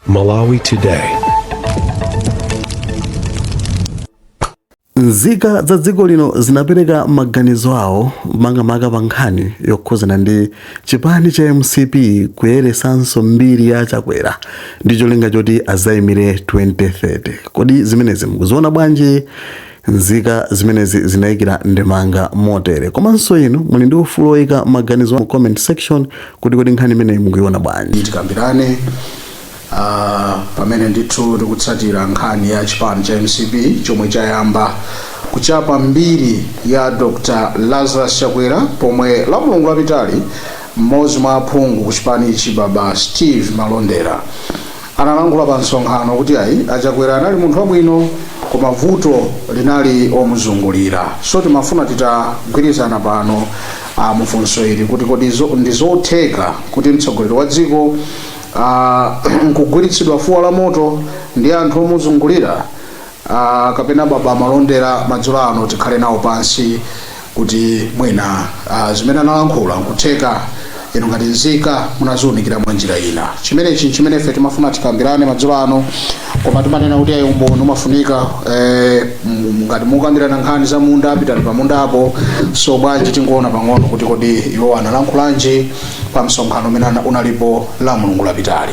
Malawi Today. nzika za dziko lino zinapereka maganizo awo makamaka pa nkhani yokhuzana ndi chipani cha mcp kuyeresanso mbiri ya chakwera ndi cholinga choti azayimire 2030 kodi zimenezi mukuziona bwanji Nzika zimenezi zinaikira ndemanga motere. Komanso inu muli ndi ufulu woika maganizo mu comment section kuti kodi nkhani imeneyi mukuiona bwanji. tikambirane ah, pamene ndithu tikutsatira nkhani ya chipani cha mcp chomwe chayamba kuchapa mbiri ya dr lazarus chakwera pomwe la mulungu lapitali mmodzi mwa aphungu ku chipanichi baba steve malondera analankhula pa msonkhano kuti ayi achakwera anali munthu wabwino koma vuto linali omuzungulira so timafuna titagwirizana pano uh, mufunso ili kuti kodi zo- ndi zotheka kuti mtsogoleri wa dziko uh, nkugwiritsidwa fuwa la moto ndi anthu omuzungulira uh, kapena baba malondera madzulo ano tikhale nawo pansi kuti mwina uh, zimene analankhula nkutheka inu ngati nzika munaziunikira mwa njira ina chimenechi chimene ife timafuna tikambirane madzulo ano koma timanena kuti ayi umboni umafunika eh, m- ngati mukambirana nkhani za munda pitani pa mundapo so bwanji tingoona pang'ono kuti kodi iwo analankhulanji pa msonkhano umene ana- unalipo la mulungu lapitali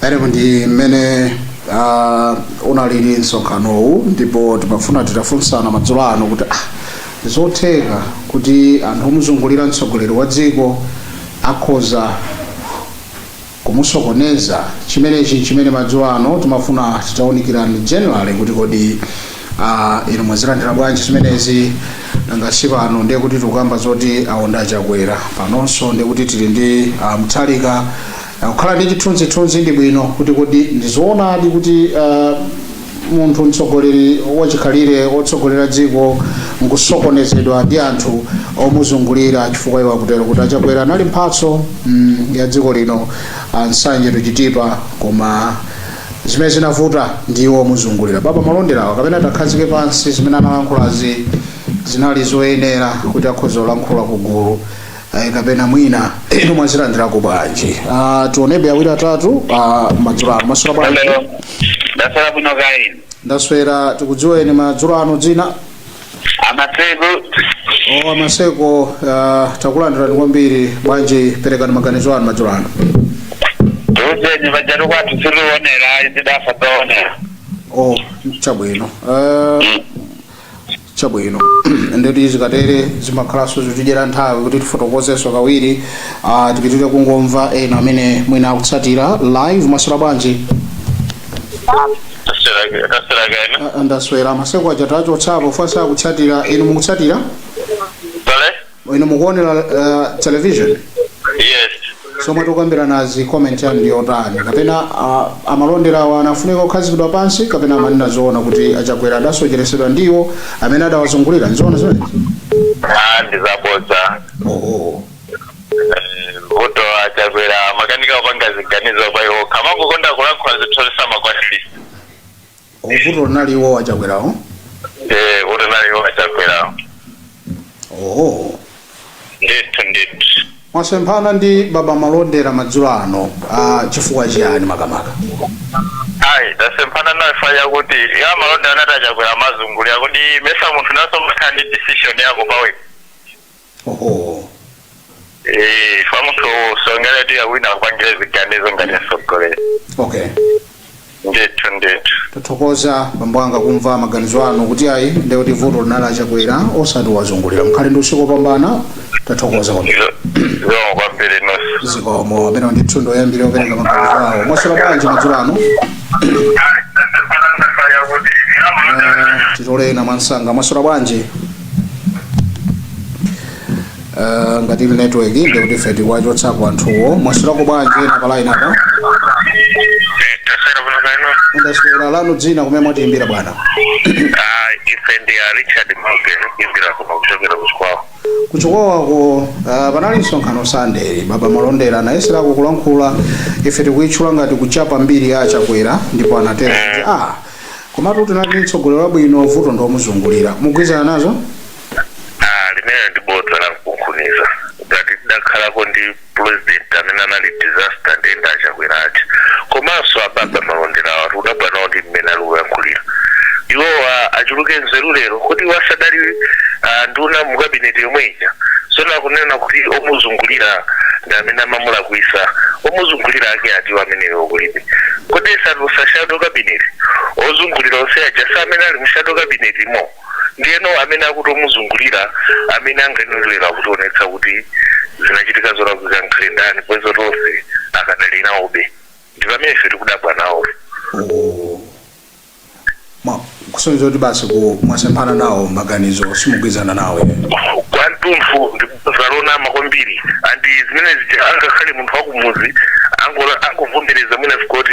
Eyamu ndi mmene ah, unalili msonkhanowu ndipo timafuna titafunsana madzulo ano kuti ah, zotheka kuti anthu omuzungulira mtsogoleri wa dziko akhoza kumusokoneza chimenechi chimene madzulo ano timafuna titaunikirani generally kuti kodi ah, inu mwazilandira bwanji zimenezi nanga si pano ndiye kuti tikukamba zoti aonda chakwera panonso ndiye kuti tili ndi ah, Mutharika Kukhala ndi chithunzithunzi bwinobwino kuti kodi ndi zoonadi kuti uh, munthu mtsogoleri wachikhalire wotsogolera dziko nkusokonezedwa ndi anthu omuzungulira chifukwa iwo akutero kuti achakwera anali mphatso mm, ya dziko lino Nsanje to Chitipa koma zimene zinavuta ndiwo omuzungulira baba malonderawa kapena tawakhazike pansi zimene analankhulazi zinali zoyenera kuti akhoza kulankhula ku gulu Ayi kapena mwina inu mwazilandirako bwanji Ah, tionebe awiri atatu ah, madzulo ano maswera bwanji Hello. Ndaswera bwino kaya inu. ndaswera tikudziweni madzulo ano dzina Amaseko o amaseko ah, takulandirani kwambiri bwanji perekani maganizo anu madzulo ano tuuzeni vajali kwathu siliwonera ayi zidafa zaonera o chabwino Ah, Chabwino. Ndiye kuti zikatere zimakhalanso zikutidyera nthawi kuti tifotokozenso kawiri. Ah, tipitire kungomva ena amene mwina akutsatira live maswera bwanji. Taswera, taswera kaya. Ah, Ndaswera amasekwa aja tawachotsapo chifukwa sakutsatira inu mukutsatira. inu mukuonera uh, television yes zomwe tikukambiranazi comment yanu ndi yotani kapena uh, amalonderawo amafunika kukhazikidwa pansi kapena amanena zoona kuti achakwera adasocheretsedwa ndiwo amene adawazungulira ndizoona zimenezo ah ndizabodza oh, oh. Eh, vuto achakwera amakanika kupanga ziganizo pa iwo okha amangokonda kulankhula zinthu zisamakwatiri vuto linali iwo achakwerawo ee vuto linali iwo achakwerawo oho ndithu ndithu mwasemphana ndi baba malondera madzulo ano ah, chifukwa chiyani makamaka ayi tasemphana nawo chifukwa chakuti iwo a malondera anati achakwera owazungulira kuti nimayesa munthu nayenso umakhala ndi decision yako pawekha oho Eh, chifukwa munthu usamayembekezere kuti wina akupangire ziganizo ngati mtsogoleri okay ndithu ndithu tathokoza bambo anga kumva maganizo anu kuti ayi ndiye kuti vuto linali achakwera osati wazungulira mukhale ndi usiku wopambana tathokoza kwambiri zikomo kwambiri inunso zikomo ameneyo ndi munthu woyambirira kupereka maganizo awo mwaswera bwanji madzulo ano titolerena mwamsanga mwaswera bwanji Eh, ngati ili network ndiye kuti ife tikuwachotsapo anthuwo mwaswerako bwanji ena pa line apa taswera bwino kaya inu ndaswera lanu dzina kumene mwatiyimbira bwana Ah, ife ndi a richard mauke tikuimbira kuchokera kuchikwawa kuchikwawako uh, panali msonkhano sunday baba malondera anayesererako kulankhula ife tikuitchula ngati kuchapa mbiri ya achakwera ndipo anatero kuti ah komatu tinali ndi mtsogoleri wabwino vuto ndi omuzungulira mugwirizana nazo Ah, limene ndi bodza la mkunkhuniza ngati tidakhalako ndi president amene anali disaster ndiye ndi achakwera aja komanso ababa malonderawatu tikudabwa nawo ndi mmene ali kuyankhulira iwowa achuluke nzeru lero kuti iwo sadali ah, nduna mu kabineti yomwe ija tsono akunena kuti omuzungulira ndi amene amamulakwisa omuzungulira ake atiwo ameneyo kulibe Kodi sadatulutse shadow cabinet? Ozungulira onse aja si amene ali mu shadow cabinet mo? Ndiyeno amene akuti omuzungulira amene angayenere kutionetsa kuti zinachitika zolakwika nkukhala ndani popeza kuti onse akadali nawobe. Ndi pamene ife tikudabwa nawo. Ma- kusonyeza kuti basi ku- mwasemphana nawo maganizo simugwirizana nawo ine kwa mtunthu ndi bodza lonama kwambiri and zimene zija angakhale munthu wakumuzi ango- angavomereze mwina sikoti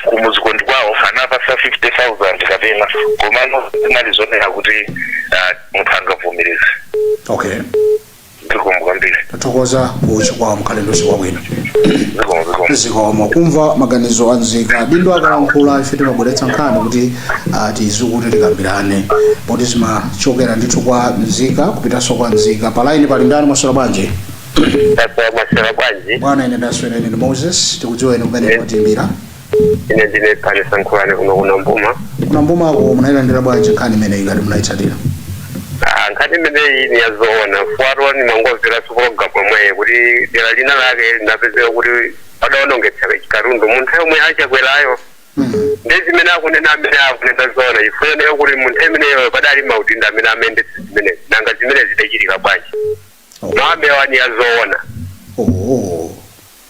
kumuzi ko ndi kwawo anapasa 50000 kapena komano zinali zonera kuti ah, munthu angavomereze okay zikomo kwambiri tathokoza ku Chikwawa mukhale ndi usiku wabwino zikomo zikomo zikomo kumva maganizo a nzika adindo akalankhula ife timabweretsa nkhani kuti ah, tizikuti tikambirane poti zimachokera ndithu kwa nzika kupitanso kwa nzika palaini pali ndani mwaswera bwanji mwaswera bwanji bwana ine ndaswera ine ndi moses tikudziweni kumene mwatiimbira ine ndine pane sankhulani kuno kuna mbuma kuna mbumako munayilandira bwanji nkhani imeneyi ngati munayitsatira Ah, nkhani imeneyi ni yazoona fukwa nimangomvera pa pologalamu yomweyi kuti dera lina lake linapezeka kuti padaonongetsa katundu munthu yomwe a Chakwera yo Mm. ndi zimene akunena amene akunena zoona chifukwa ineyo kuti munthu imeneyo padali maudindo amene amayendetsa zimenezi nanga zimene zidachitika bwanji Oh. maambewa ni yazoona Oh.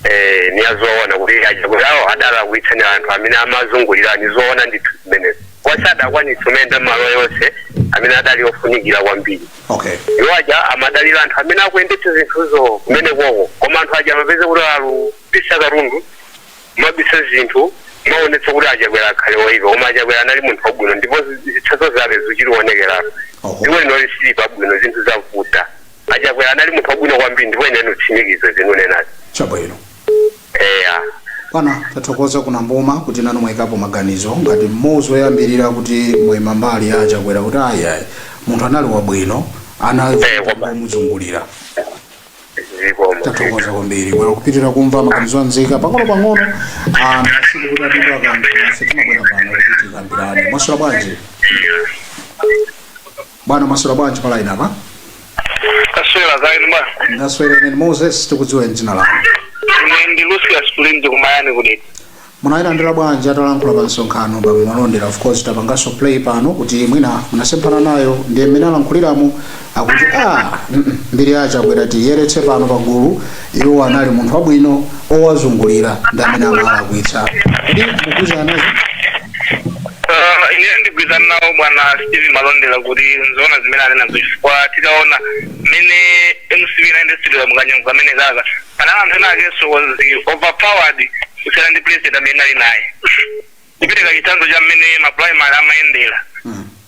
Eee niyazoona kuti a Chakwerawo adalakwitsa ni anthu amene amazungulira nizoona ndithu zimenezo sadakwanitse kumayenda m'malo yonse amene adali ofunikira kwambiri okay iwo aja amadalira anthu amene akuyendetsa zinthuzo kumene koko koma anthu aja amapeza kuti alupisa katundu amabisa zinthu kumaonetsa kuti a Chakwera akhale woipa koma a Chakwera anali munthu wabwino ndipo zitsanzo zake zichilionekerapo Oho. dziko linoli sili pabwino zinthu zavuta A Chakwera anali munthu wabwino kwambiri ndipo ine ndikutsimikiza zimene nikunenazi. chabwino Eya. bwana tathokoza kuna mbuma kuti nanu mwayikapo maganizo ngati mmodzi woyambirira kuti mwaima mbali ya chakwera kuti ayi ayi munthu anali wabwino ana Eh, wabwino. omuzungulira Zikomo. tathokoza kwambiri bwana kupitiriza kumva maganizo a nzika pang'ono pang'ono anthu asiku kuti apindula kanthu ife timabwera pano kuti tikambirane mwaswera bwanji bwana mwaswera bwanji pa line apa taswera kaya inu bwana ndaswera ine ndi moses tikudziweni dzina lanu ine ndi lucius ku linzi kumayani ku dedza munayilandira bwanji atalankhula pa msonkhano bwana malondera of course tapanganso play pano kuti mwina munasemphana nayo ndiye mmene alankhuliramo akuti a mbiri ya Chakwera tiyeretse pano pagulu iwo anali munthu wabwino owazungulira ndi amene amalakwitsa kodi mugwizana nazo Ah, ine ndigwirizana nawo bwana steve malondera kuti n'zoona zimene anena zo chifukwa tikaona mmene mcp inayendetsera mukanyengo kamene kaka panali anthu ena ake so anali overpowered kusiyana ndi president amene ali naye kupereka chitsanzo cha mmene maprimary amayendera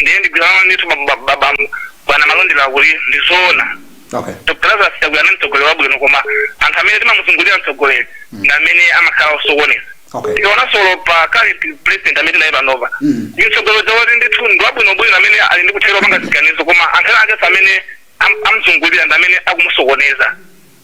ndiye ndigwirizana ndithu ba- ba- ba- ba- bwana malondera kuti ndizoona okay dr lazarus chakwera ndi mtsogoleri wabwino koma anthu amene timamuzungulira mtsogoleri ndi amene amakhala osokoneza okay tikaonanso pa current president amene tili naye panopa Mm. ndi mtsogoleri woti ndithu ndi wabwinobwino amene ali ndi kuthekera kopanga ziganizo koma anthu akenso amene am- amzungulira ndi amene akumusokoneza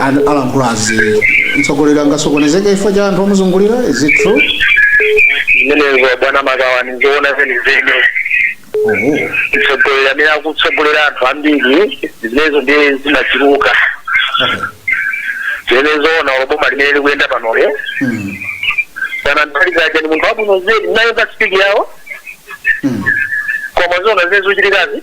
An- alankhula izi mtsogoleri angasokonezeke chifukwa cha anthu omuzungulira is it true zimenezo bwana makawa ndi zoona zenizeni oho mtsogoleri amene akutsogolera anthu ambiri zimenezo ndiye zimachuluka okay zimenezo zoona olo boma limene likuyenda panoli mm. kaya Mutharika ni munthu wabwino zedi nayo pa spidi yawo mm. koma zoona zimene zochitikazi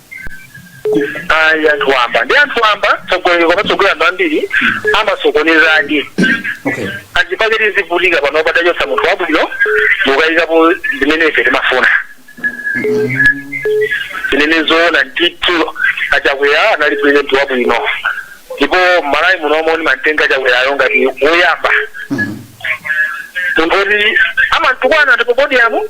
ayi anthu wamba ndi anthu wamba mtsogoleri akamatsogolera anthu ambiri amasokonezadi okay nchifukwa chake tikuvutika pano titachotsa munthu wabwino nkuyikapo zimene ife timafuna zimenezo zoona ndithu achakwera anali pulezidenti wabwino ndipo malawi muno momwe ndimantenga achakwerayo ngati woyamba munthu oti amantukwana ali pa podiyamu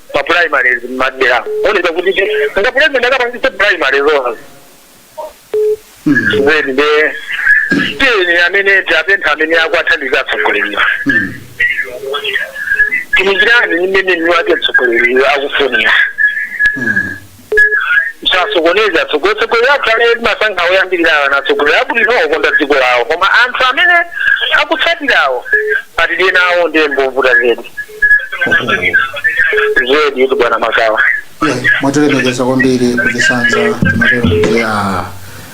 ma primaries mmadera owoneka kuti ti nga president akapangitse primaries zoona zedi nde tiyeni amene tapempha amene akuwathandiza atsogoleriwa tikimikirani mmene mwini wake mtsogoleriyo akufunira sasokoneza atsogoleri atsogoleri athu amene timasankha oyambirirawa ndi atsogoleri abwino okonda dziko lawo koma anthu amene akutsatirawo atidye nawo ndiye ovuta zedi zedi kuti bwana makawa Yeah, mwatilemekeza kwambiri kuchisanza timatero kuti ah,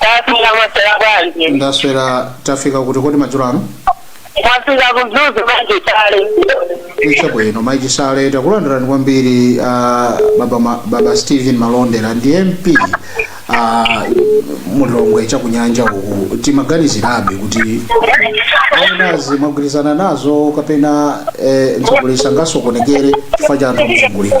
Tafunsa mwaswera bwanji. ndaswera tafika kuti kodi madzulo ano Tafika kumzuzu bwanji kale. chabwino maiki sale takulandirani kwambiri ah, baba, ma, baba stephen malondera ndi mp ah, mulilongwe chakunyanja uku timaganizirabe kuti izi mwagwirizana nazo kapena eh, mtsogoleri sangasokonekere chifukwa cha anthu omuzungulira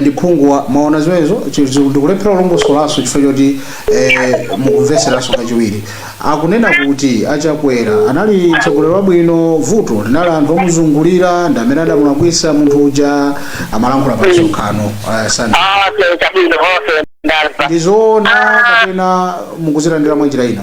ndi phungu wa mwaona zimenezo chi- chi- ndikulephera kulongosolanso chifukwa choti eh, mukamvetseranso kachiwiri akunena kuti achakwera anali mtsogoleri wabwino vuto linali anthu omuzungulira ndi amene adamulakwisa munthu uja amalankhula pa msonkhano uh, sandi Ah, okay, chabwino, okay, ndamva. ndizoona kapena mukuzilandira mwa njira ina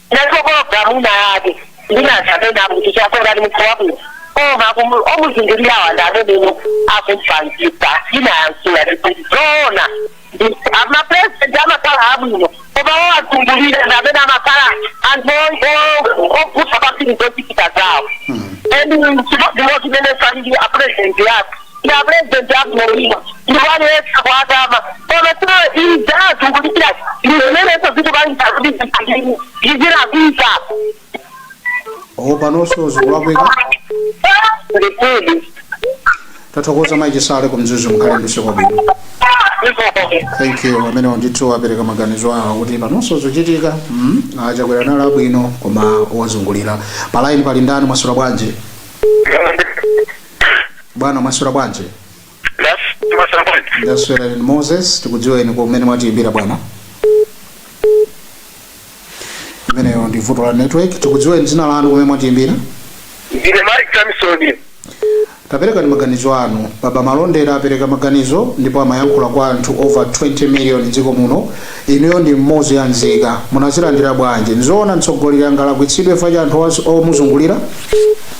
Nanenso pa programu ina yake ndinati amene akuti chakwera ndi munthu wabwino koma akumu- omuzungulirawa ndi amene akumpusitsa ndinayankhula kuti zoona amapresident amakhala abwino koma owazungulira ndi amene amakhala anthu opusa kwambiri zochitika zawo and chimodzi chimene sanji apresident athu ndi apulezidenti abwino ndipo aliyesa kuatama koma sio izazi kulipira ndi zimenenso zikupangisa kuti zipangini ndizirapisa o panonso zikulakwika ndikudi tathokoza mayi chisale kumzuzu mukhale ndi usiku wabwino thank you amenewa ndithu apereka maganizo awo kuti panonso zochitika mm, a chakwera analinso abwino koma ozungulira pa line pali ndani mwaswera bwanji bwana mwaswera bwanji ndaswera inu moses tikudziweni kumene mwatiyimbira bwana imeneyo ndi vuto la network tikudziweni dzina lanu kumene mwatiyimbira ndine mike samson taperekani maganizo anu baba a malondera apereka maganizo ndipo amayankhula kwa anthu over 20 million dziko muno inuyo ndi mmodzi wa nzika munazilandira bwanji nzoona mtsogoleri angalakwitsidwe fa cha anthu omuzungulira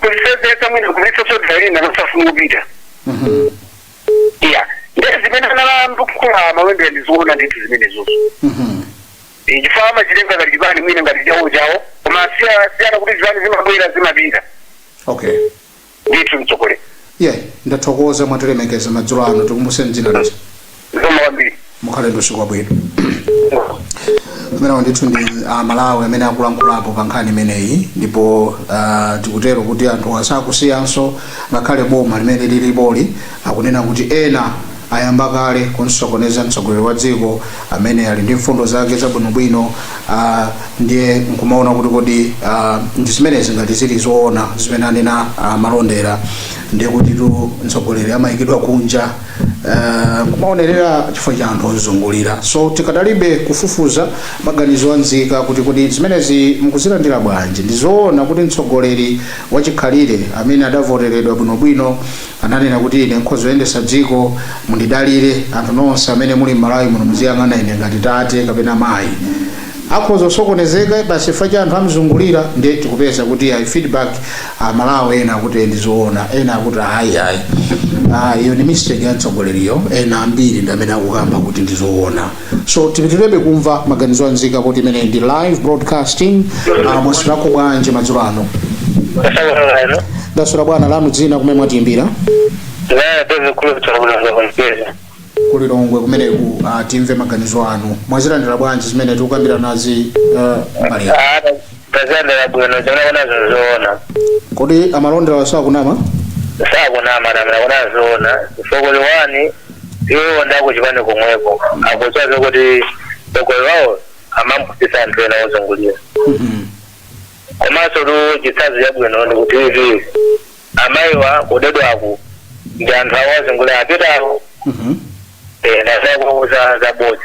kulisevesa mwina kulisa sodairina nosafumubita Mhm. iya ndee zimene analankhula mawembera ndi zoona ndithu zimenezozo Mhm. chifukwa amachitenga ngati chipani mwina ngati chawo chawo koma siya- siyana kuti zipani zimabwera zimapita okay ndithu mtsogoleri yeah ndathokoza mwatilemekeza madzulo ano tikumbuseni dzina lija zikomo kwambiri mukhale ndi usiku wabwino amenewa ndithu ndi amalawi amene akulankhulapo pa nkhani imeneyi ndipo ah, tikutero kuti anthu asakusiyanso ngakhale boma limene lilipoli akunena kuti ena Ayamba kale kunsokoneza mtsogoleri wa dziko amene ali ndi mfundo zake zabwinobwino ah, ndiye nkumaona kuti kodi ah, ndi zimenezi ngati zili zoona zimene anena ah, malondera ndiye kutitu mtsogoleri amayikidwa kunja ah, nkumaonerera chifukwa cha anthu ozungulira so tikadalibe kufufuza maganizo a nzika kuti kodi zimenezi mukuzilandira bwanji ndi zoona kuti mtsogoleri wachikhalire amene adavoteredwa bwinobwino Ananena kuti ine nkhoza kuyendetsa dziko, mundidalire. Anthu nonse amene muli mmalawi muno muziyang'ana ine ngati tate kapena mayi. Akhoza kusokonezeka basi chifukwa cha anthu amzungulira nde tikupeza kuti iyayi feedback a Malawi ena akuti ee ndizoona ena akuti ayi ayi iyo ndi mistake ya mtsogoleriyo ena ambiri ndi amene akukamba kuti ndizoona. so tipitirebe kumva maganizo a nzika kuti imeneyi ndi live broadcasting uh, mwaswerako bwanji madzulo ano Asalamualaikum. ndaswera bwana lanu dzina kumene mwatiyimbira Zaya David Kulu kutoka Mwanza kwa Mpesa. ku lilongwe kumeneku uh, timve maganizo anu mwazilandira bwanji zimene tikukambira nazi uh, mbali yanu. Ah, ndazilandira bwino zoona kuna zozoona. kodi a malonderawo sakunama Sakunama mara kuna zoona. Sokoli wani iwo ndakuchipani komweko akudziwa zokuti mtsogoleri wawo amamupusitsa anthu ena ozungulira komansotu chitsanzo chabwino ndi kuti ivi amayiwa, kudedwaku ndi anthu awo ozungulira apitawo ndi zakuuza zabodza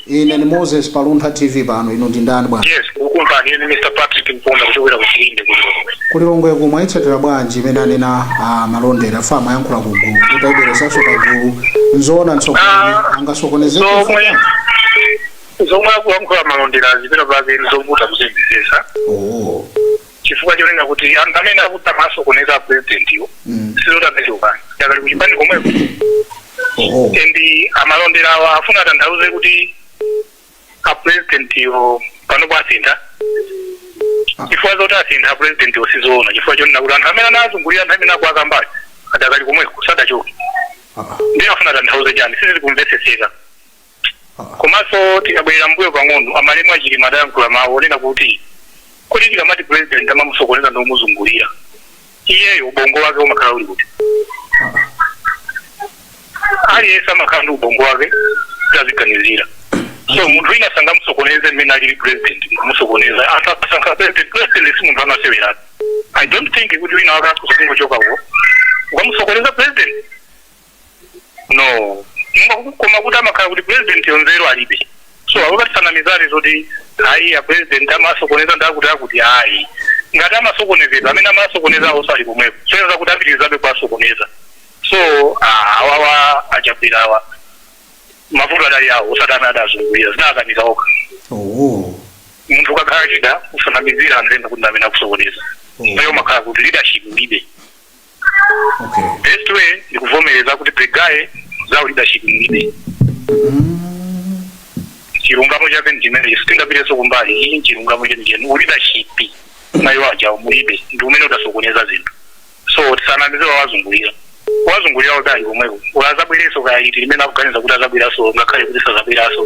Ine ndi Moses pa Luntha TV pano, inu ndi ndani bwana? Yes, mukumva ndine Mr. Patrick Mponda kuchokera ku Chilinde ku Lilongwe. Ku Lilongweku mwayitsatira bwanji imene anena a Malondera, pamayankhula ku gulu kuti ayibweresanso pa gulu nzoona mtsogoleri angasokonezeke mfundo? Zomwe akuyankhula a Malondera pena pake zovuta kuzimvetsetsa. Oh, chifukwa chonena kuti anthu amene akuti amasokoneza apurezidentiwo sizoti achoka adakali kuchipani komweko oho and a Malonderawa afuna atanthauze kuti apurezidentiwo panopo asintha chifukwa zoti asintha apurezidentiwo sizoona chifukwa chonena kuti anthu amene anawazungulira anthu amene akuwakambayo adakali komweko sadachoke Ah, ah. ndiye afuna atanthauze chani sizili kumvetsetseka Komanso tikabwerera mmbuyo pang'ono, a malemu a Chilima adayankhula mawu onena kuti kodi tikamati president amamusokoneza ndi omuzungulira, iyeyo ubongo wake umakhala uli kuti? Aliyense amakhala ndi ubongo wake kuti aziganizira. So munthu wina sangamusokoneze mmene alili president kumusokoneza. Anthu akasankha president, president si munthu wamaseweratu. I don't think kuti wina wake akhoza kungochoka uko n'kukamusokoneza president. no Mwa- koma kuti zimakhala kuti president yo nzeru alibe so asamatinamize zoti ayi a president amawasokoneza ndi akutiakuti ayi ngati amasokonezedwa amene amawasokonezawo ali komweko akuyenera kuti apitirizabe kuwasokoneza so ah, awawa a Chakwerawa mavuto adali awo osati amene adawazungulira zinawakanika okha oh munthu ukakhala lida usanamizire anzako kuti ndamene akukusokoneza iwo zimakhala kuti leadership ulibe okay best way ndi kuvomereza kuti the guy za leadership alibe chilungamo chake ndichimenecho sitingapitenso kumbali iyi nchilungamo chenicheni uleadership mwa iwo aja mulibe ndi umene udasokoneza zinthu so tisanamizire wawazungulira owazungulira adakali komweko ola azabwerenso kaya ndi liti limene akuganiza kuti azabweranso ngakhale kuti sazabweranso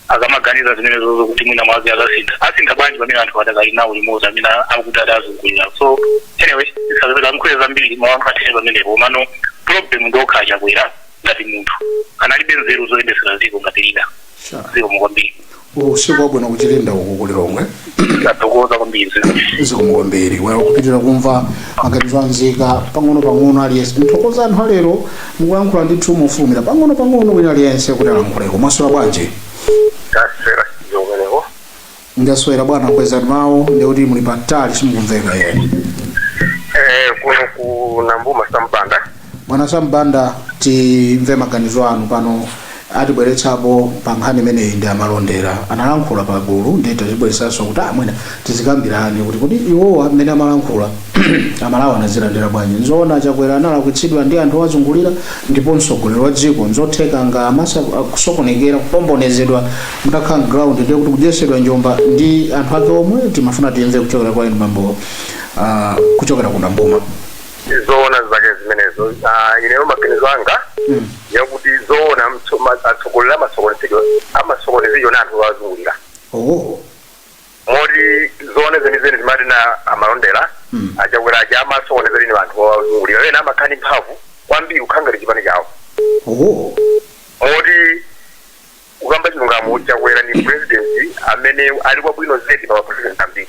akamaganiza zimenezozo kuti mwina mwake akasintha asintha bwanji pamene anthu adakali nawo limodzi amene akuti adawazungulira so anyway ndisachite kulankhula zambiri mawu anga athere pamenepo komano problem ndi okha a Chakwera ngati munthu analibe nzeru zoyendetsera dziko ngati lida Sure. zikomo kwambiri usiku wabwino ku Chilinde uku ku Lilongwe tathokoza kwambiri zikomo kwambiri bwera tipitirize kumva maganizo a nzika pang'ono pang'ono aliyense ndithokoze anthu alero mukulankhula ndithu mofulumira pang'ono pang'ono wina aliyense kuti alankhuleko mwaswera bwanji taswera kaya kumeneko ndaswera bwana kwezani mawu ndiye kuti muli patali simukumveka eee kuno ku Nambuma sampanda bwana sam banda timve maganizo anu pano atibweretsapo pa nkhani imeneyi ndi amalondera analankhula pa gulu ndiye tazibweretsanso kuti mwina tizikambirane kuti kuti iwowa mmene amalankhula amalawi anazilandira bwanji nzoona chakwera analakwitsidwa ndi anthu owazungulira ndipo mtsogoleri wa dziko nzotheka ngakhale amatha kusokonekera kupombonezedwa osakhala mground ndiye kuti kudyetsedwa njomba ndi anthu ake omwe timafuna timve kuchokera kwa inu mambo ah, kuchokera ku nambuma zoona zake zimenezo Ah, ineyo maganizo anga yakuti zoona mtso- ma- atsogoleri amasokonezedwa amasokonezedwa na anthu owazungulira oh moti zoona zenizeni zimanena amalondera Mm. achakwera aja amasokonezedwa ni anthu owazungulira ena amakhala ndi mphamvu kwambiri kukhala ngati chipani chawo oh moti kukamba chilungamo chakwera ni president amene anali wabwino zedi pa mapresident ambiri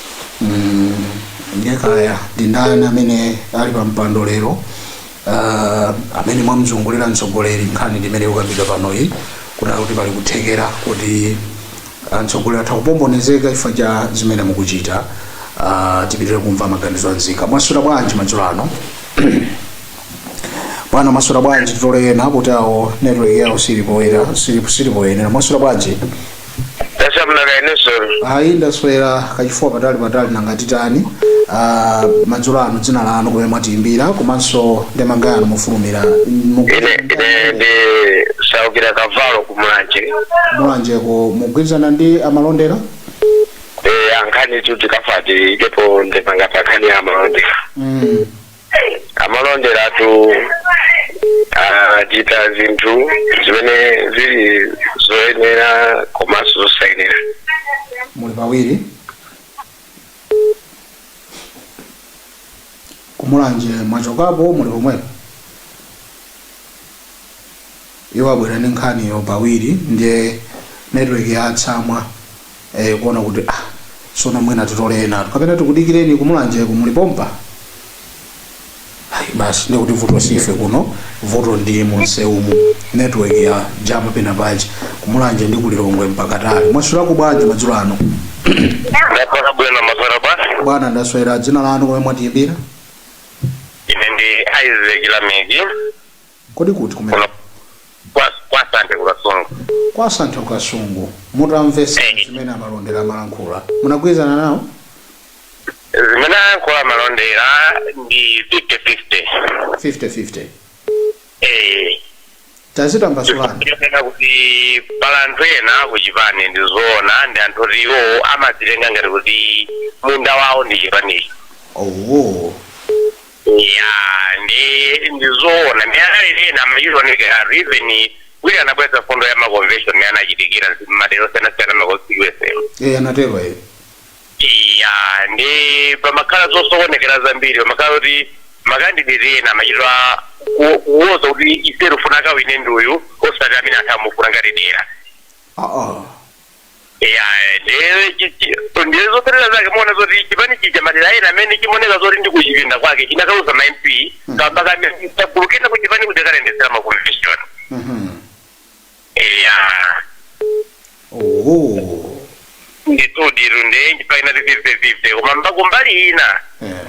Mm, ndiye kaya ndi ndani amene ali pa mpando lero ah, amene mwamzungulira mtsogoleri nkhani ndiyimene ikukambidwa panoyi kunena kuti pali kuthekera kuti mtsogoleri atha kupombonezeka chifukwa cha zimene mukuchita Ah, tipitire kumva maganizo a nzika mwaswera bwanji madzulo ano bwana mwaswera bwanji titole ena kuti awo network yawo silipoyera silipoyenera mwaswera bwanji tasamnaka ineso ayi ndaswera kachifuwa patali patali nanga titani Ah, madzulo ano dzina lanu kumene mwatiyimbira komanso ndemanga yanu mofulumira ine ine ndi saukira kavalo kumulanje mulanjeko mugwirizana ndi amalondera Eh, pankhanitu timafuna tiikepo ndemanga pa nkhani ya amalondera Mm. amalonderatu achita zinthu zimene zili zoyenera komanso zosayenera muli pawiri kumulanje mwachokapo muli pomwepo Iwo abwera ndi nkhaniyo pawiri ndiye network yatsamwa ee kuona kuti ah sono mwina titole enatu kapena tikudikireni kumulanjeko muli pompa ayi basi ndiye kuti vuto si ife kuno vuto ndi mumsewumu network yajama pena paja kumulanje ndi kulilongwe mpakatali mwaswerako bwanji madzulo ano Ndaswera bwino mwaswera basi. bwana ndaswera dzina lanu komwe mwatiyimbira Ine ndi Isaac Lameki. Kodi kuti kuno kumeneko? kwa kwa santhe kukasungu Kwa Santhe Kukasungu. Mutamvetsa Eh. zimene amalondera amalankhula, munagwirizana nawo? zimene ayankhula amalondera ndi 50-50 50-50. Eh, Tazitambasulani. chifukwa kuti pali anthu ena kuchipani ndi zoona ndi anthu oti iwo amadzitenga ngati kuti munda wawo ndi chipanicho Oh. Eya ndi ndi zoona ndi anali ena amachioneka even wina anabweretsa mfundo ya maconvention imene anachitikira nzi- m'madera osiyanasiyana ma constituency Eh, anatero eh. iya ndi pamakhala zosokonekera zambiri pamakhala kuti makandideti ena amachitwa ku- kuwoza kuti ife tikufuna akawine ndi uyu osati amene anthu akumufuna ngati dera Ah, ah. Yeah, ndiye chichi- ndiye zoperera zake muona zoti chipani chija madera ena amene chimoneka zoti ndi kuchipinda kwake chinakaluza ma mp kamba ka ka gulu lina ku chipani ndi kayendetsedwe ka ma convention Mhm. yeah Oh. ndithu diru ndiye ndikuti ndi 50 50 koma mba kumbali ina Eh.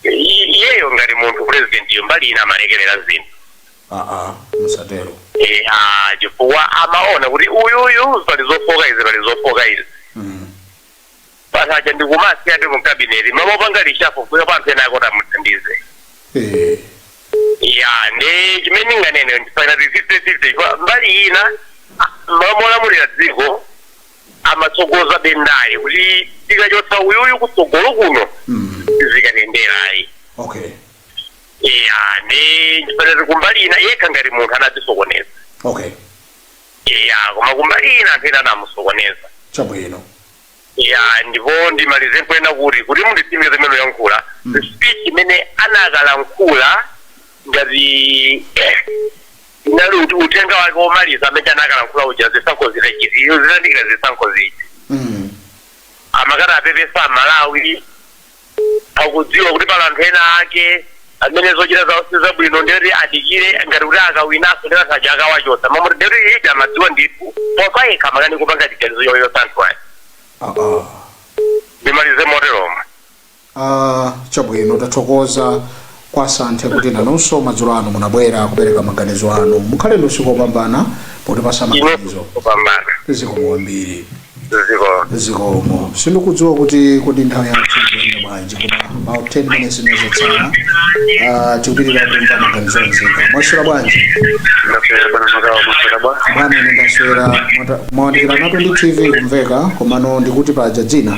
I- iyeyo ngati munthu purezidentiyo mbali ina amalekerera zinthu aa musatero Eh, ah, chifukwa amaona kuti uyuyu pali zofoka izi pali zofoka izi Mm. basi ndikumasiya ndi mukabineti mmalo mopanga reshuffle kuikapo anthu ena akoti amuthandize Eh, ya ndi chimene ndinganene ndipakati 50 50 mbali ina mmalo molamulira dziko amatsogoza ndale kuti tikachotsa uyuyu kutsogolo kuno zikandiyendera ayi okay iya ndi fifty fifty kumbali ina yekha ngati munthu anadzisokoneza okay iya koma kumbali ina anthu ena anamusokoneza chabwino ya ndipo ndimalize ponena kuti kuti munditsimikize zimene ndikuyankhula speech imene anakalankhula ngati unali ut- uthenga wake womaliza amene anakalankhula uja zisankho zitachi- iyo zitayandikira zisankho zija Mm. amakati apepesa amalawi akudziwa kuti pali anthu ena ake amene zochita zawo si zabwino ndiyoti adikire ngati kuti akawinaso ndi anthu aja akawachotsa mmaudindo ndiyoti iye amadziwa ndithu koma payekha amakanika kupanga chiganizo chochotsa anthu ayi Ah, ah. ndimalize moteromo Ah, chabwino tathokoza kwa asanthe kuti nanunso madzulo ano munabwera kupereka maganizo anu mukhale ndi usiku wopambana potipasa maganizo kupambana zikomo kwambiri ziko zikomo sindikudziwa kuti kodi nthawi yathu ikuyenda bwanji koma about 10 minutes ndi zotsala ah, tikupitirira kumva maganizo a nzika mwaswera bwanji ndaswera bwino kaya inu mwaswera bwa bwana ine ndaswera mwata- mwayandikirana ndi tv kumveka komano ndikuti paja dzina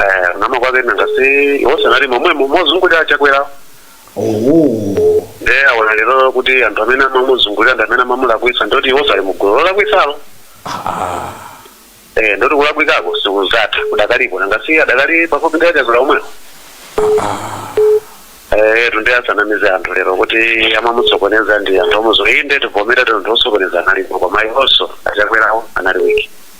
eh unama kwake nanga si iwonso analimo momwemo mozungulira achakwera oho nde aona lero kuti anthu amene amamuzungulira ndi amene amamulakwitsa ndoti iwonso ali mugulu lolakwitsalo Ah, eh ndoti kulakwikako sikunathe kudakalipo nanga si adakali pafupi ndi achakwera omwewo eh nde asanamize anthu lero kuti amamusokoneza ndi anthu omuzo inde tivomera anthu osokoneza analipo koma iwonso achakwerawo anali wiki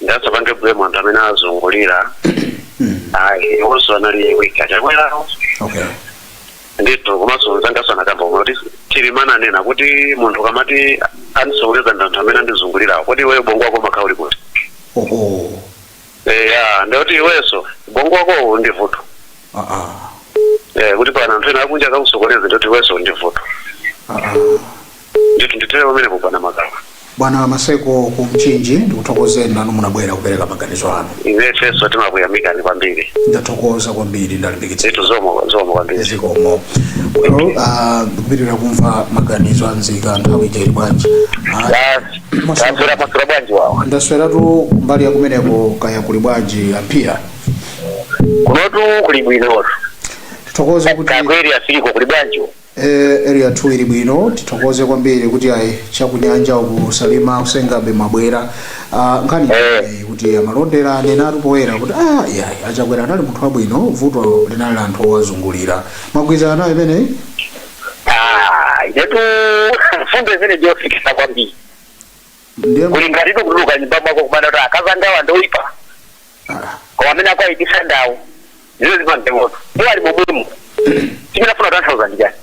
nde asapange blame anthu amene azungulira ayi iwonso anali weak a chakwerawo okay ndithu komanso mzangaso anakamba koma kuti chilima ananena kuti munthu ukamati andisokoneza ndi anthu amene andizungulirawo kodi iweyo bongo wako umakhala uli kuti oho eya ndikuti iwenso bongo wakowo ndi vuto ah ah Eh, kuti pana anthu ena akunja akakusokoneza ndikuti iwenso ndi vuto ah ah ndithu ndithere pamenepo bwana makawa bwana maseko ku mchinji ndikuthokozeni nanu munabwera kupereka maganizo anu ifenso timakuyamikani kwambiri ndathokoza kwambiri ndalimbikitsa zinthu zikomo zikomo kwambiri zikomo lero ah, ndikupitirira kumva maganizo anzika nthawi ija ili bwanji Ah, basi Maseko. mwaswera mwaswera bwanji wawa ndasweratu mbali yakumeneko kaya kuli bwanji a phiri kunotu kuli bwinotu tithokoze kuti kakweri asiliko kuli bwanji Eee area 2 ili bwino tithokoze kwambiri kuti ayi chakunyanja uku salima ku senga bay mwabwera Ah, nkhani imeneyi kuti amalondera anenatu poyera kuti ah yayi achakwera anali munthu wabwino vuto linali la anthu owazungulira mwagwirizana nayo imeneyi Ah, inetu mfundo imene ndiyofikisa kwambiri ndiye kuli ngati kutuluka nyumba mwako kumanena kuti akazi angawa ndoyipa koma amene akuwayipitsa ndawo ndizo zimange moto iwo ali momwemo chimene afuna tanthauza ndi chani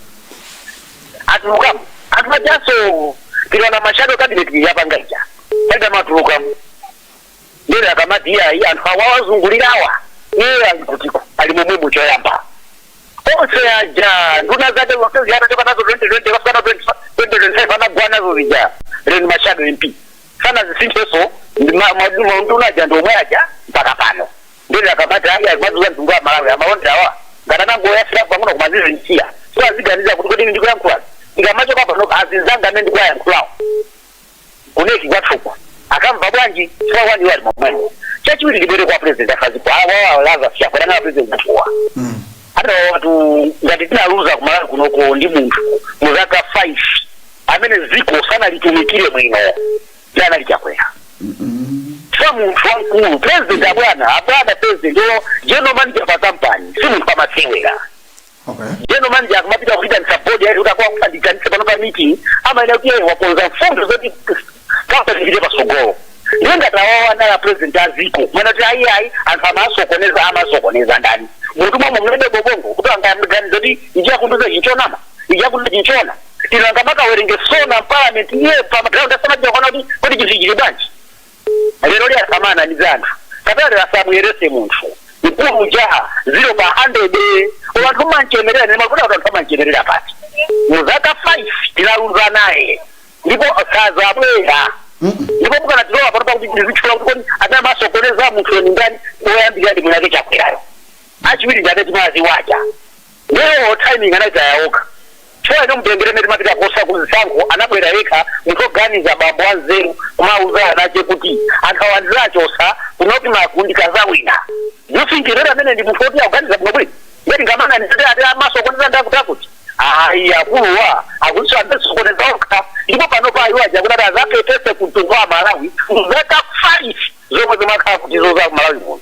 atulukamo anthu ajanso tinaona ma shadow cabinet yapanga ija palibe amatulukamo Ndiyeno akamati, Iyayi, anthu awa awazungulirawa, iye ali kutiko? Ali momwemo choyamba. Onse aja, nduna zake zonse zija atachoka nazo 2020 kufika 2025 anagwa nazo zija, Ren ma shadow MP. Sanazisinthenso, ndi ma- ma- ma- nduna aja ndi omwe aja mpaka pano. Ndiyeno akamati, ayi, ayi, mwazunza mtundu wa Malawi, a Malonderawa, ngati anangoyasira pang'ono koma azizinsiya. So aziganiza kuti kodi ndikuyankhula. Ndikamachoka pano, azinzanga amene ndikuwayankhulawo. ku NEC kwathuku akamva bwanji chifukwa kwani iwo ali momwemo chachiwiri ndibwere kwa president afaziko awa laza chakwera anang'ala president athuwa adawatu ngati tinaluza kumalawi kunoko ndi munthu mu zaka 5 amene ziko sanalitumikire bwino sanali chakwera chifukwa munthu wamkulu president abwana abwana president yo general manager pa kampani si munthu wamasewera Okay. General manager akamapita kuitanisa board yayi kuti akwa kupandikanisa pano pa meeting amayenera kuti iye wakonza mfundo zoti kampani ipite pasogolo ndiye ngati awawa anali president a ziko mwana kuti ayi ayi anthu amasokoneza amasokoneza ndani munthu mwamwe mulibe ubongo kuti angaganiza kuti ichi akundiuzachi nchonama ichi akundiuzachi nchoona tino angamakawerenge sona mparliament iye pamaground asamajia kwana kuti kuti chinthu chili bwanji Lero lyasamana ndi anthu satana lero asamuyerese munthu mkulu uja 0 pa 100 koma anthu mmanchemerera nde nimakuti anthu anthu amanchemerera koma mu zaka 5 tinaluza naye ndipo sazabwera ndipo mukanatilowa pano pakuti ndizitchula kuti kodi amene amasokoneza munthu weni ndani oyambirira ndi mwiniwake Chakwerayo achiwiri ndi amene timawaziwa aja Nde timing anaitaya okha chifukwa inu mutengere mmene timapita kuza ku zisankho anabwera yekha munthu oganiza bambo wanzeru kumauza anache kuti akawa ndizachosa kunoti maka ndikazawina you think kuti ameneyu ndi munthu oti akuganiza bwino bwino ngati ngamanga ndisati ati amasokoneza ndakutakuti ayi akuluwa akuti anazisokoneza okha ndipo pano pa iwo aja kunati azapepese ku mtundu wa malawi mzaka 5 zomwe akhala akutizunza ku malawi muno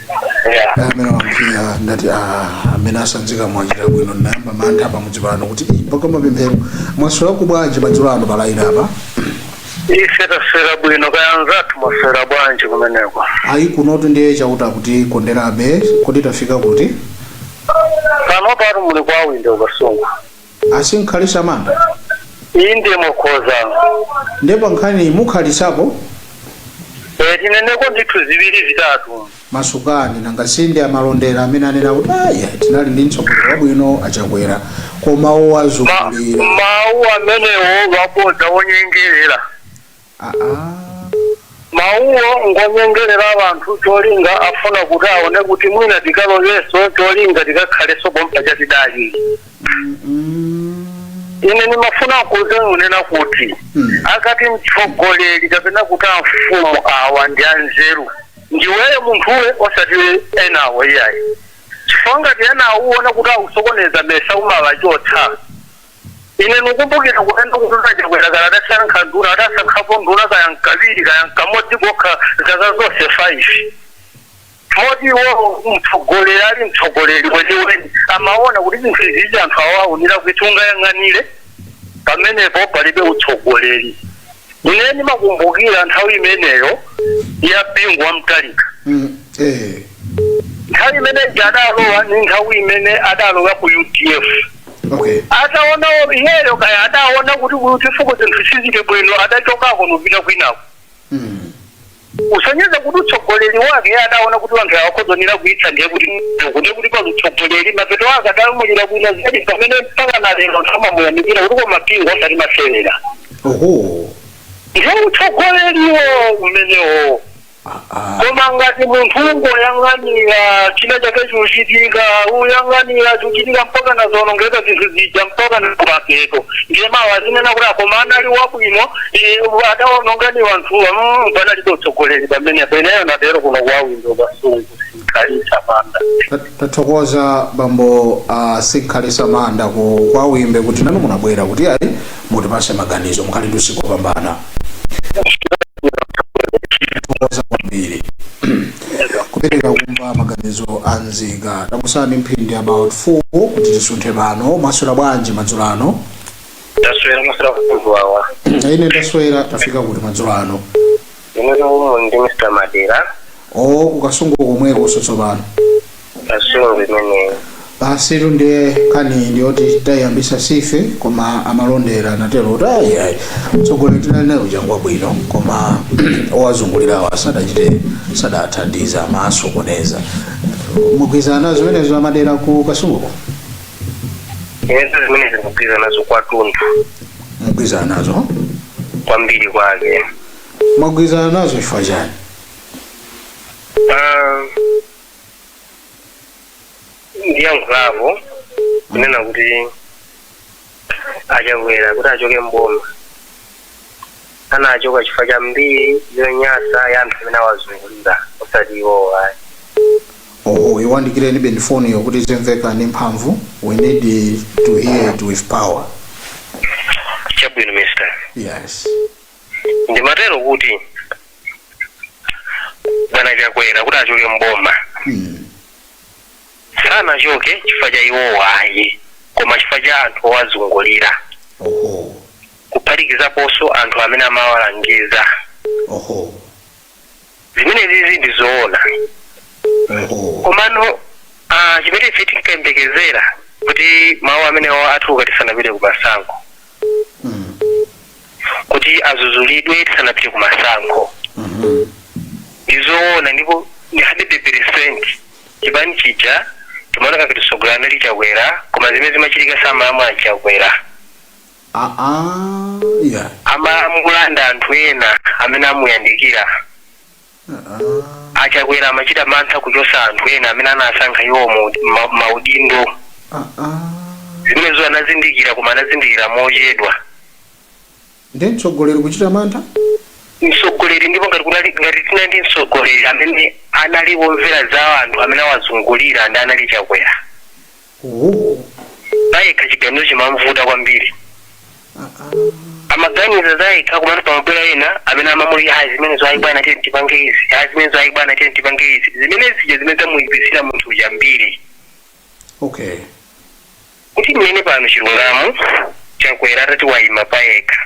amene watsikira ndati "Ah, amene asanzika mwachita bwino ndinayamba mantha pamudzi pano kuti "Ih, mpaka mapemphero mwaswera ko bwanji madzulo ano palaini apa ife taswera bwino kaya anzathu mwaswera bwanji kumeneko ayi kunotu ndiye chauta akutikonderabe Kodi tafika kuti kunotu muli kwa Wimbe ku Kasungu Asinkhalisha manda? inde mukhoza Nde pa nkhaniyi mukhalisapo? e, tineneko ndithu ziwiri zitatu Masukani nanga sinde amalondola amene anena kuti ayi tinali ndi mtsogoleri wabwino achakwera koma owazungulira. mawu amenewo wabodza wonyengerera Mawuwo ngonyengerera anthu cholinga afuna kuti aone kuti mwina tikalowenso cholinga tikakhalenso pompaja tidali. Ine nimafuna nkuuzeni kunena kuti akati mtsogoleri kapena kuti amfumu awa ndi anzeru ndiweyo munthuwe osati enawo iyayi chifukwa ngati enawo uona kuti akusokoneza nesa umawachotsa ine nikumbukira kunena kuti a Chakwera kaya adasankha nduna adasankhapo nduna kaya nkawiri kaya nkamodzi kokha zaka zonse 5 moti iwowo mtsogoleri ali mtsogoleri weniweni amaona kuti zinthu izizi anthu awawa nde kuti ungayang'anire pamenepo palibe utsogoleri ine ndimakumbukira nthawi imeneyo ya bingu wa mtalika Mm, eh. nthawi imene jadalowa ni nthawi imene adalowa ku udf okay ataona iyeyo kaya adaona kuti ku UDF-ko zinthu sizili bwino adachokako nupita kwinako mm. kusonyeza kuti utsogoleri wake iye adaona kuti wanthu awa akhoza kuipitsa ndiye kuti kuti kuti pali utsogoleri mapeto wake adamulira bwino zedi pamene mpaka na lero amamuyamikira kuti koma Bingu osati masewera oho ndiye utsogoleriwo umenewo koma ngati munthu ungoyang'anira china chake chikuchitika uyang'anira chikuchitika mpaka nazonongeka zinthu zija mpaka nakumapeto ndiye mawa azinena kuti a koma anali wabwino eh, adaononga ndi wanthuwa mm, panalibe utsogoleri pamenepo ineyo ndatero kuno kwa Wimbe Kasungu Sinkhalisa Manda. Ta- tathokoza bambo a sinkhalisa manda ku kwa Wimbe kuti nanu munabwera kuti ayi mutipase maganizo mukhale ndi usiku wopambana thokoza kwambiri kupitiriza kumva maganizo a nzika tangotsala ndi mphindi about 4 kuti tisunthe pano mwaswera bwanji madzulo ano Taswera maswera wawa. ine ndaswera tafika kuti madzulo ano ine kuno ndi mr madera o ku Kasungu komweko sotsopano kasungu imeneyo basi tu ndiye nkhani ndiyoti tayambisa sife koma amalondera anatero kuti ayi ayi mtsogoleri tinali naye wabwinobwino koma owazungulirawo asadachite sadathandiza amasokoneza mugwirizana nazo zimenezo amadera ku kasunguko ine zimenezi ndikugwirizana nazo kwathunthu mugwirizana nazo kwambiri kwake mwagwirizana nazo chifukwa chani Ah, ndiyankhula apo kunena kuti achakwera kuti achoke m'boma anachoka chifukwa cha mbiri yonyasa ya anthu amene awazungulira osati iwowo ayi oho iwandikireni pang'ono foni yo kuti zimveka ndi mphamvu we need to hear it with power chabwino mister yes ndimatero kuti bwana chakwera kuti achoke m'boma Mm. sanachoke chifukwa cha iwowo ayi koma chifukwa cha anthu owazungulira Oho. kuphatikizaponso anthu amene amawalangiza Oho. zimenezizi ndi zoona oho komano ah, chimene ife tinkayembekezera kuti mawu amenewo atuluka tisanapite ku masankho Mm. kuti azuzulidwe tisanapite ku masankho Mhm. ndizoona ndipo ndi 100 percent chipani chija chimaoneka ngati mtsogoleri anali Chakwera koma zimene zimachitika samalamula a Chakwera Aaah, yeah. amalamula ndi anthu ena amene amuyandikira Aaah, achakwera amachita mantha kuchosa anthu ena amene anasankha iwo mu- ma- maudindo aaah. zimenezo anazindikira koma anazindikira mochedwa Nde mtsogoleri kuchita mantha? mtsogoleri ndipo ngati kunali ngati tina ndi mtsogoleri amene anali womvera za anthu amene awazungulira ndi anali chakwera Oho. payekha chiganizo chimamvuta kwambiri Ah, ah. amaganiza zayekha komanso pamabwera ena amene amamuli ah zimenezo ayi bwana tiye tipange izi ah zimenezo ayi bwana tiye tipange izi zimene zija zimene zamuyipitsira munthu uja mbiri Okay. kuti mmene pano chilungamo Chakwera atati wayima payekha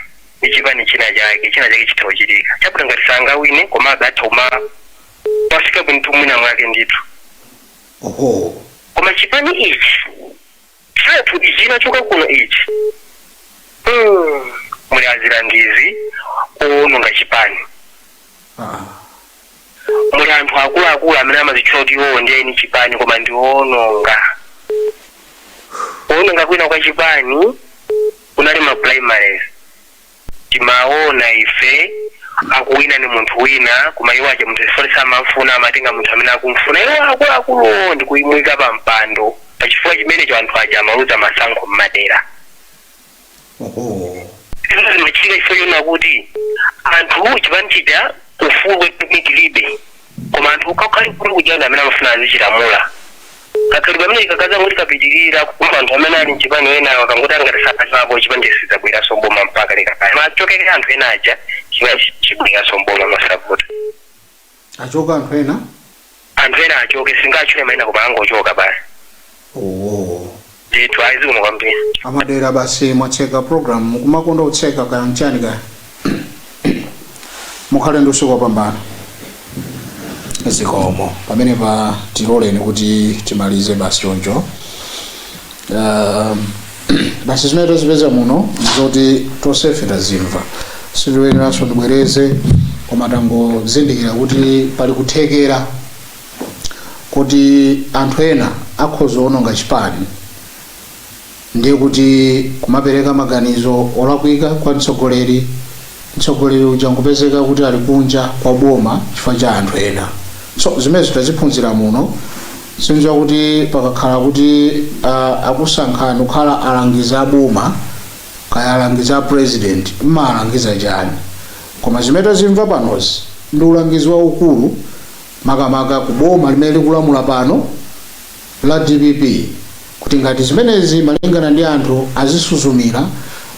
ndi chipani china chake china chake chitha kuchitika chakuti ngati sangawine komabe atha kumapafika ndithu mwina mwake ndithu Ohoo. Koma chipani ichi chathu ichi chinachoka kuno ichi. Mm. Muli azilangizi owononga chipani. Ah. Muli anthu akuluakulu amene amazitchula kuti iwowo ndiye eni chipani koma ndi owononga. Kuwononga kwina kwa chipani kunali ma primaries. timaona ife akuwina ni munthu wina koma iwo aja munthu chifoti samamfuna amatenga munthu amene akumfuna iwo akuluakuluwo ndi kumuyika pa mpando pa chifukwa chimenecho anthu aja amaluza masankho mmadera oho zimene zimachitika chifukwa chonena kuti anthu chipani chija ufulu weniweni chilibe koma anthu akuluakulu kujana amene amafuna azichilamula kakhalidwe kameneka kakadzangoti kapitirira kumva anthu amene ali mchipani enawo akangoti angati sachokapo chipani sidzabweranso mboma mpaka kalekale atachoka anthu ena aja chipani chibweranso mboma masapota achoka anthu ena anthu ena achoke sindingatchule maina koma angochoka basi oh. ndithu ayi zikomo kwambiri a Madera basi mwatseka program mukumakonda utseka kaya mchani kaya mukhale ndi usiku wopambana zikomo pamenepa tiloleni kuti timalize basi choncho Um, basi zimene tazipeza muno ndizoti tonsefe tazimva sitiyeneranso tibwereze koma tangozindikira kuti pali kuthekera kuti anthu ena akhoza kuononga chipani ndiye kuti kumapereka maganizo olakwika kwa mtsogoleri mtsogoleri uja nkupezeka kuti ali kunja kwa boma chifukwa cha anthu ena so zimenezo taziphunzira muno sindidziwa kuti pakakhala kuti uh, akusankhani kukhala alangizi a boma kaya alangizi a president mmalangiza chani koma zimene tazimva panozi ndi ulangizi waukulu makamaka ku boma limene likulamula pano la dpp kuti ngati zimenezi malingana ndi anthu adzisuzumira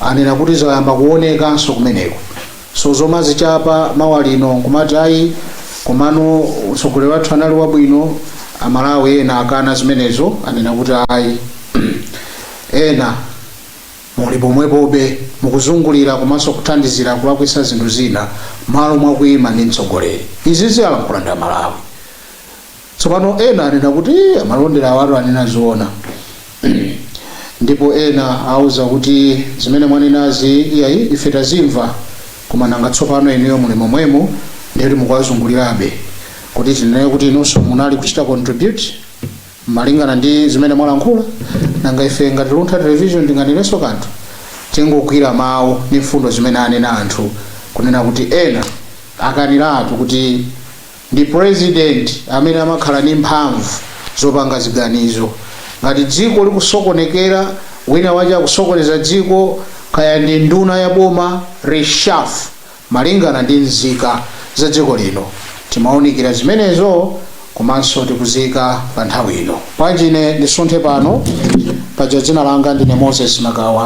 anena kuti zayamba kuonekanso kumeneko so zomadzichapa mawa lino nkumati ayi komano utsogoleri wathu anali wabwino amalawi ena akana zimenezo anena kuti ayi ena Muli pomwepobe, mukuzungulira komanso kuthandizira kulakwisa zinthu zina malo mwa kuima ndi mtsogoleri. Izizi alankhula ndi a Malawi. Tsopano ena anena kuti ii amalonda awatu anena zoona. Ndipo ena auza kuti zimene mwanenazi iyayi ife tazimva koma nanga tsopano inuyo muli momwemo ndiye kuti mukuwazungulirabe kuti tinene kuti inunso munali kuchita contribute? malingana ndi zimene mwalankhula nanga ife ngati luntha television tinganenenso kanthu tingogwira mawu ndi mfundo zimene anena anthu kunena kuti ena akaniratu kuti ndi president amene amakhala ndi mphamvu zopanga ziganizo ngati dziko likusokonekera wina wache akusokoneza dziko kaya ndi nduna ya boma reshafu malingana ndi nzika za dziko lino timaunikira zimenezo komanso tikuziika pa nthawi ino. Bwanji ine ndisunthe pano, paja dzina langa ndine Moses Magawa.